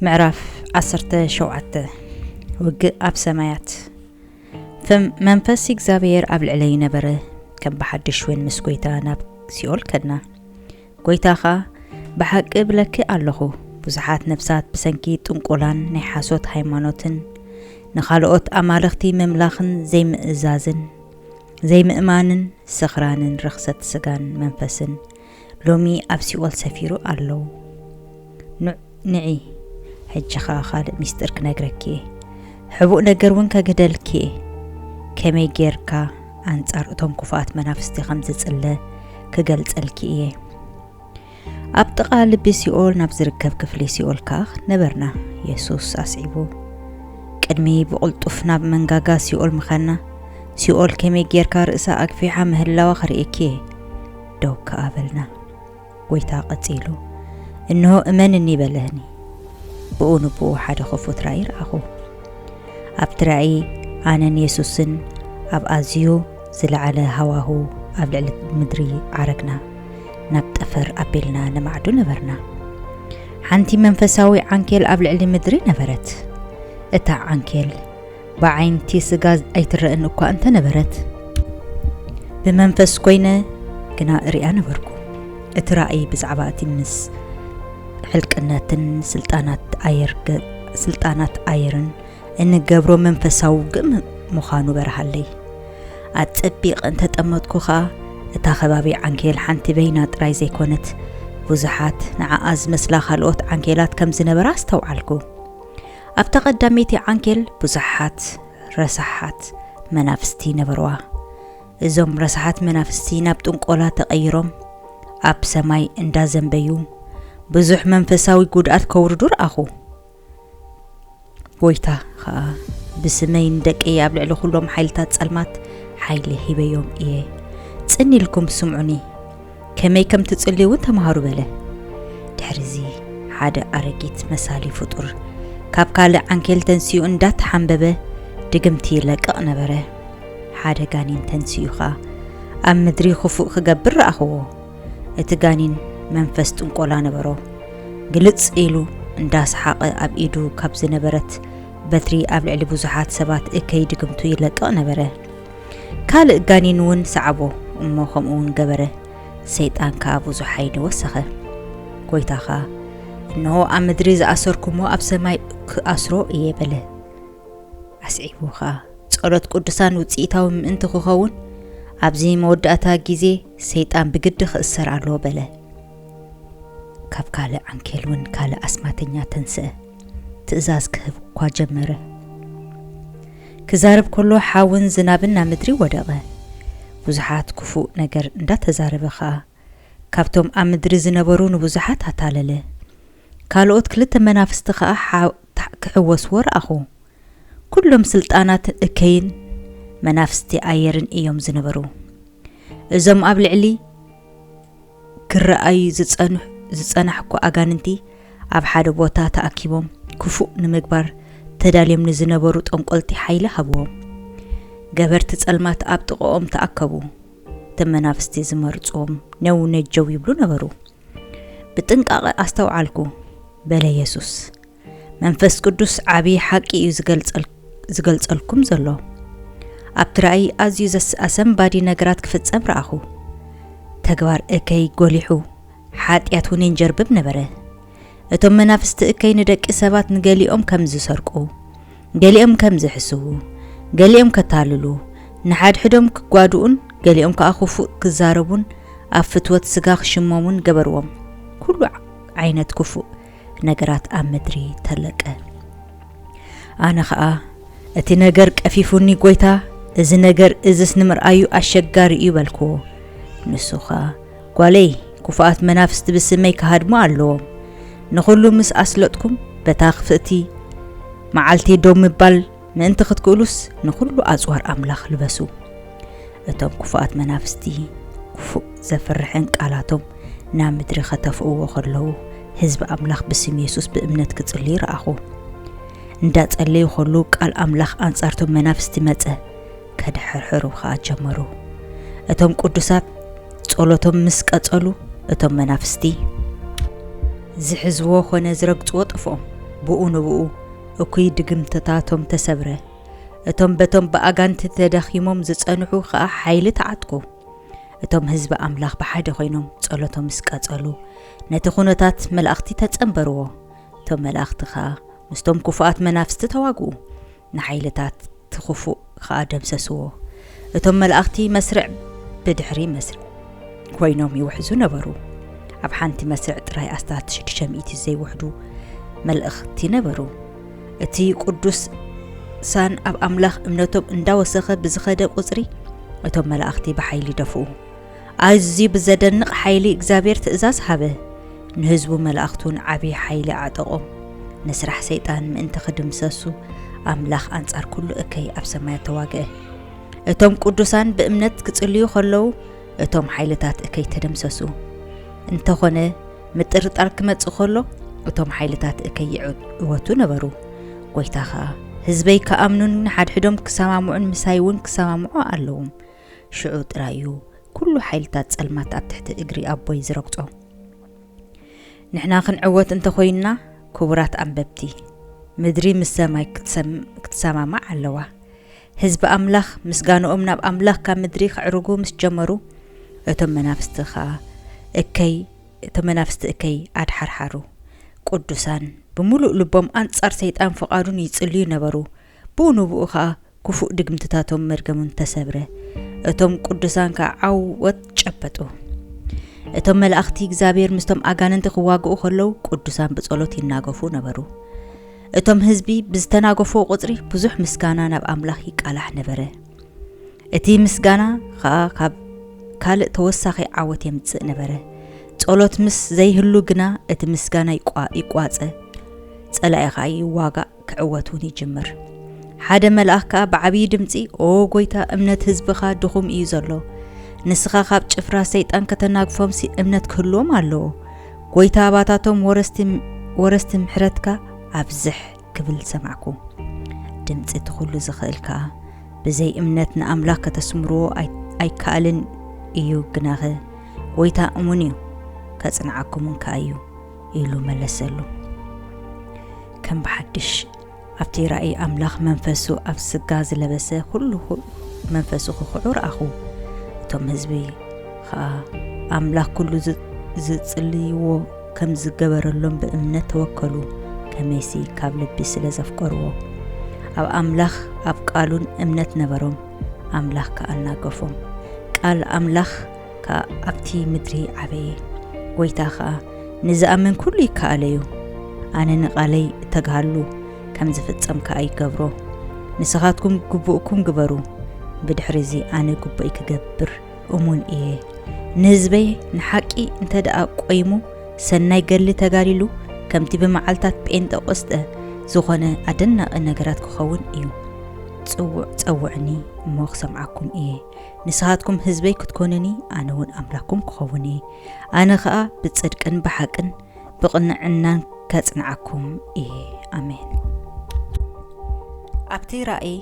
ምዕራፍ ዓሰርተ ሸውዓተ ውግእ ኣብ ሰማያት መንፈስ እግዚኣብሔር ኣብ ልዕለይ ነበረ ከም ብሓድሽ እውን ምስ ጎይታ ናብ ሲኦል ከድና ጎይታ ኸ ብሓቂ ብለኪ ኣለኹ ብዙሓት ነፍሳት ብሰንኪ ጥንቆላን ናይ ሓሶት ሃይማኖትን ንኻልኦት ኣማልኽቲ ምምላኽን ዘይምእዛዝን ዘይምእማንን ስኽራንን ርኽሰት ስጋን መንፈስን ሎሚ ኣብ ሲኦል ሰፊሩ ኣሎ ን ንዒ ሕጂ ከኣ ካልእ ሚስጢር ክነግረኪ እየ ሕቡእ ነገር እውን ከግህደልኪ እየ ከመይ ጌርካ ኣንጻር እቶም ኩፉኣት መናፍስቲ ከም ዝጽለ ክገልጸልኪ እየ ኣብ ጥቓ ልቢ ሲኦል ናብ ዝርከብ ክፍሊ ሲኦል ከኣ ነበርና የሱስ ኣስዒቡ ቅድሚ ብቕልጡፍ ናብ መንጋጋ ሲኦል ምኻና ሲኦል ከመይ ጌርካ ርእሳ ኣግፊሓ ምህላዋ ክርእየኪ እየ ደው ከኣ በልና። ጐይታ ቀጺሉ፣ እንሆ እመንኒ በለኒ። ብኡ ንብኡ ሓደ ኽፉት ራእይ ረኣኹ። ኣብቲ ራእይ ኣነን የሱስን ኣብ ኣዝዩ ዝለዓለ ሃዋሁ ኣብ ልዕሊ ምድሪ ዓረግና፣ ናብ ጠፈር ኣቢልና ንማዕዱ ነበርና። ሓንቲ መንፈሳዊ ዓንኬል ኣብ ልዕሊ ምድሪ ነበረት። እታ ዓንኬል ብዓይንቲ ስጋ ኣይትረእን እኳ እንተ ነበረት፣ ብመንፈስ ኰይነ ግና እርእያ ነበርኩ። እቲ ራእይ ብዛዕባ እቲ ምስ ሕልቅነትን ስልጣናት ኣየርን እንገብሮ መንፈሳዊ ውግእ ምዃኑ በርሃለይ። ኣጸቢቐ እንተ ጠመትኩ ኸኣ፣ እታ ከባቢ ዓንኬል ሓንቲ በይና ጥራይ ዘይኰነት፣ ብዙሓት ንዓኣ ዝመስላ ኻልኦት ዓንኬላት ከም ዝነበራ ኣስተውዓልኩ። ኣብታ ቀዳመይቲ ዓንኬል ብዙሓት ረሳሓት መናፍስቲ ነበርዋ። እዞም ረሳሓት መናፍስቲ ናብ ጥንቆላ ተቐይሮም ኣብ ሰማይ እንዳ ዘንበዩ ብዙሕ መንፈሳዊ ጉድኣት ከውርዱ ረኣኹ። ጎይታ ኸኣ ብስመይ ንደቀይ ኣብ ልዕሊ ኩሎም ሓይልታት ጸልማት ሓይሊ ሂበዮም እየ። ጽን ኢልኩም ስምዑኒ። ከመይ ከም ትጽልዩ እውን ተምሃሩ በለ። ድሕርዚ ሓደ ኣረጊት መሳሊ ፍጡር ካብ ካልእ ዓንኬል ተንሲኡ እንዳተሓንበበ ድግምቲ ይለቅቕ ነበረ። ሓደ ጋኒን ተንሲኡ ኸኣ ኣብ ምድሪ ክፉእ ክገብር ረኣኽዎ። እቲ ጋኒን መንፈስ ጥንቆላ ነበሮ። ግልጽ ኢሉ እንዳሰሓቐ ኣብ ኢዱ ካብ ዝነበረት በትሪ ኣብ ልዕሊ ብዙሓት ሰባት እከይ ድግምቱ ይለቅቕ ነበረ። ካልእ ጋኔን እውን ሰዓቦ እሞ ከምኡ እውን ገበረ፣ ሰይጣን ከኣ ብዙሕ ሓይሊ ወሰኸ። ጐይታ ኸኣ እነሆ ኣብ ምድሪ ዝኣሰርኩሞ ኣብ ሰማይ ክኣስሮ እየ በለ። ኣስዒቡ ኸኣ ጸሎት ቅዱሳን ውጽኢታዊ ምእንቲ ክኸውን ኣብዚ መወዳእታ ግዜ ሰይጣን ብግዲ ክእሰር ኣለዎ በለ። ካብ ካልእ ዓንኬል እውን ካልእ ኣስማተኛ ተንስአ። ትእዛዝ ክህብ እኳ ጀመረ። ክዛረብ ከሎ ሓውን ዝናብን ናብ ምድሪ ወደቐ። ብዙሓት ክፉእ ነገር እንዳተዛረበ ከኣ ካብቶም ኣብ ምድሪ ዝነበሩ ንብዙሓት ኣታለለ። ካልኦት ክልተ መናፍስቲ ከኣ ክሕወስዎ ረኣኹ። ኩሎም ስልጣናት እከይን መናፍስቲ ኣየርን እዮም ዝነበሩ። እዞም ኣብ ልዕሊ ክረኣዩ ዝጸንሑ ዝጸናሕኩ ኣጋንንቲ ኣብ ሓደ ቦታ ተኣኪቦም ክፉእ ንምግባር ተዳልዮም ንዝነበሩ ጠንቆልቲ ሓይሊ ሃብዎም። ገበርቲ ጸልማት ኣብ ጥቐኦም ተኣከቡ። እቶም መናፍስቲ ዝመርጽዎም ነው ነጀው ይብሉ ነበሩ። ብጥንቃቐ ኣስተውዓልኩ በለ የሱስ። መንፈስ ቅዱስ ዓብዪ ሓቂ እዩ ዝገልጸልኩም ዘሎ። ኣብቲ ራእይ ኣዝዩ ኣሰንባዲ ነገራት ክፍጸም ረኣኹ። ተግባር እከይ ጎሊሑ፣ ሓጢኣት እውን የንጀርብብ ነበረ። እቶም መናፍስቲ እከይ ንደቂ ሰባት ንገሊኦም ከም ዝሰርቁ፣ ገሊኦም ከም ዝሕስዉ፣ ገሊኦም ከታልሉ፣ ንሓድሕዶም ክጓድኡን ገሊኦም ከዓ ክፉእ ክዛረቡን ኣብ ፍትወት ስጋ ክሽመሙን ገበርዎም። ኩሉ ዓይነት ክፉእ ነገራት ኣብ ምድሪ ተለቀ። ኣነ ኸኣ እቲ ነገር ቀፊፉኒ ጐይታ፣ እዚ ነገር እዝስ ንምርኣዩ ኣሸጋሪ እዩ በልክዎ። ንሱ ኸኣ ጓለይ፣ ክፉኣት መናፍስቲ ብስመይ ክሃድሙ ኣለዎም፣ ንዅሉ ምስ ኣስለጥኩም በታ ክፍእቲ መዓልቲ ደው ምባል ምእንቲ ክትክእሉስ ንዅሉ ኣጽዋር ኣምላኽ ልበሱ። እቶም ክፉኣት መናፍስቲ ክፉእ ዘፍርሕን ቃላቶም ናብ ምድሪ ኸተፍእዎ ኸለዉ ህዝቢ ኣምላኽ ብስም የሱስ ብእምነት ክጽልዩ ረኣኹ። እንዳ ጸለዩ ኸሉ ቃል ኣምላኽ ኣንጻርቶም መናፍስቲ መጸ ከድሐርሕሩ ኸኣ ጀመሩ። እቶም ቅዱሳት ጸሎቶም ምስ ቀጸሉ እቶም መናፍስቲ ዝሕዝዎ ኾነ ዝረግጽዎ ጠፍኦም ብኡ ንብኡ እኩይ ድግምትታቶም ተሰብረ፣ እቶም በቶም ብኣጋንንቲ ተዳኺሞም ዝጸንሑ ኸኣ ሓይሊ ተዓጥቁ። እቶም ህዝቢ ኣምላኽ ብሓደ ዀይኖም ጸሎቶም ምስ ቀጸሉ፣ ነቲ ዅነታት መላእኽቲ ተጸንበርዎ፣ እቶም መላእኽቲ ኸኣ ምስቶም ክፉኣት መናፍስቲ ተዋግኡ፣ ንሓይልታት'ቲ ኽፉእ ኸኣ ደምሰስዎ። እቶም መላእኽቲ መስርዕ ብድሕሪ መስርዕ ኰይኖም ይውሕዙ ነበሩ። ኣብ ሓንቲ መስርዕ ጥራይ ኣስታት ሽዱሽተ ሚእቲ ዘይውሕዱ መልእኽቲ ነበሩ። እቲ ቕዱስ ሳን ኣብ ኣምላኽ እምነቶም እንዳወሰኸ ብዝኸደ ቍጽሪ፣ እቶም መላእኽቲ ብሓይሊ ደፍኡ። ኣዝዩ ብዘደንቕ ሓይሊ እግዚኣብሔር ትእዛዝ ሃበ፣ ንህዝቡ መላእኽቱን ዓብዪ ሓይሊ ኣዕጠቖም፣ ንስራሕ ሰይጣን ምእንቲ ክድምሰሱ፣ ኣምላኽ ኣንጻር ኩሉ እከይ ኣብ ሰማያት ተዋግአ። እቶም ቅዱሳን ብእምነት ክጽልዩ ከለዉ እቶም ሓይልታት እከይ ተደምሰሱ። እንተኾነ ምጥርጣር ክመጽእ ከሎ እቶም ሓይልታት እከይ ይዕወቱ ነበሩ። ጐይታ ኸኣ ህዝበይ ክኣምኑን ንሓድሕዶም ክሰማምዑን ምሳይ እውን ክሰማምዑ ኣለዎም ሽዑ ጥራይ እዩ ኩሉ ሓይልታት ጸልማት ኣብ ትሕቲ እግሪ ኣቦይ ዝረግጾ። ንሕና ክንዕወት እንተ ኮይንና ክቡራት ኣንበብቲ፣ ምድሪ ምስ ሰማይ ክትሰማማዕ ኣለዋ። ህዝቢ ኣምላኽ ምስጋንኦም ናብ ኣምላኽ ካብ ምድሪ ከዕርጉ ምስ ጀመሩ፣ እቶም መናፍስቲ ከኣ እከይ እቶም መናፍስቲ እከይ ኣድሓርሓሩ። ቅዱሳን ብምሉእ ልቦም ኣንጻር ሰይጣን ፍቓዱን ይጽልዩ ነበሩ። ብኡ ንብኡ ከኣ ክፉእ ድግምትታቶም መርገሙን ተሰብረ፣ እቶም ቅዱሳን ከኣ ዓወት ጨበጡ። እቶም መላእኽቲ እግዚኣብሔር ምስቶም ኣጋንንቲ ክዋግኡ ከለዉ ቅዱሳን ብጸሎት ይናገፉ ነበሩ። እቶም ህዝቢ ብዝተናገፍዎ ቁጽሪ ብዙሕ ምስጋና ናብ ኣምላኽ ይቃላሕ ነበረ። እቲ ምስጋና ከኣ ካብ ካልእ ተወሳኺ ዓወት የምጽእ ነበረ። ጸሎት ምስ ዘይህሉ ግና እቲ ምስጋና ይቋጸ፣ ጸላኢ ከኣ ይዋጋእ። ክዕወት እውን ይጅምር። ሓደ መልኣኽ ከኣ ብዓብዪ ድምጺ፣ ኦ ጐይታ፣ እምነት ህዝብኻ ድኹም እዩ ዘሎ። ንስኻ ኻብ ጭፍራ ሰይጣን ከተናግፎምሲ እምነት ክህልዎም ኣለዎ። ጐይታ ኣባታቶም ወረስቲ ወረስቲ ምሕረትካ ኣብዝሕ ክብል ሰማዕኩ። ድምጺ እቲ ዅሉ ዝኽእል ከኣ፣ ብዘይ እምነት ንኣምላኽ ከተስምርዎ ኣይከኣልን እዩ፣ ግናኸ ጐይታ እሙን እዩ፣ ከጽንዓኩምን ከኣ እዩ ኢሉ መለሰሉ። ከም ብሓድሽ ኣብቲ ራእይ ኣምላኽ መንፈሱ ኣብ ስጋ ዝለበሰ ኩሉ መንፈሱ ክኽዑ ረኣኹ እቶም ህዝቢ ኸኣ ኣምላኽ ኩሉ ዝጽልይዎ ከም ዝገበረሎም ብእምነት ተወከሉ ከመይሲ ካብ ልቢ ስለ ዘፍቀርዎ ኣብ ኣምላኽ ኣብ ቃሉን እምነት ነበሮም ኣምላኽ ከኣናገፎም ቃል ኣምላኽ ከኣ ኣብቲ ምድሪ ዓበየ። ጐይታ ኸኣ፣ ንዝኣምን ኵሉ ይከኣሎ እዩ። ኣነ ንቓለይ እተግሃሉ፣ ከም ዚፍጸም ከኣ ይገብሮ። ንስኻትኩም ግቡእኩም ግበሩ፣ ብድሕርዚ ኣነ ግቡእይ ክገብር እሙን እየ። ንህዝበይ ንሓቂ እንተ ደኣ ቈይሙ፣ ሰናይ ገድሊ ተጋዲሉ፣ ከምቲ ብመዓልትታት ጴንጠቆስጠ ዝዀነ ኣደናቒ ነገራት ኪኸውን እዩ። ጽውዕ ጸውዑኒ እሞ ክሰምዓኩም እየ። ንስኻትኩም ህዝበይ ክትኮኑኒ ኣነ እውን ኣምላኩም ክኸውን እየ ኣነ ኸኣ ብጽድቅን ብሓቅን ብቕንዕናን ከጽንዓኩም እየ ኣሜን ኣብቲ ራእይ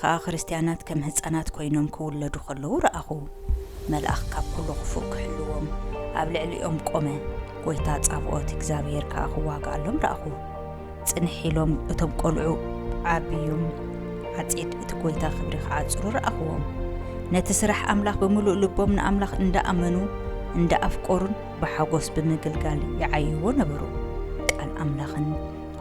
ኸኣ ክርስትያናት ከም ህፃናት ኮይኖም ክውለዱ ከለዉ ረኣኹ መልኣኽ ካብ ኩሉ ክፉእ ክሕልዎም ኣብ ልዕሊኦም ቆመ ጐይታ ጻብኦት እግዚኣብሔር ከኣ ክዋግኣሎም ረኣኹ ጽንሕ ኢሎም እቶም ቈልዑ። ዓብዩም፣ ዓጺድ እቲ ጐይታ ክብሪ ኺዓጽሩ ረኣኽዎም። ነቲ ስራሕ ኣምላኽ ብምሉእ ልቦም ንኣምላኽ እንዳ ኣመኑ፣ እንዳ ኣፍቈሩን ብሓጐስ ብምግልጋል ይዓይዎ ነበሩ። ቃል ኣምላኽን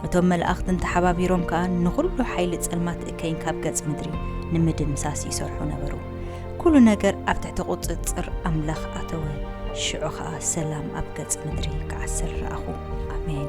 እቶም መላእኽትን ተሓባቢሮም ከኣ ንዅሉ ሓይሊ ጸልማት እከይን ካብ ገጽ ምድሪ ንምድምሳስ ይሰርሑ ነበሩ። ኵሉ ነገር ኣብ ትሕቲ ቍጽጽር ኣምላኽ ኣተወ፣ ሽዑ ኸኣ ሰላም ኣብ ገጽ ምድሪ ክዓስል ረኣኹ። ኣሜን።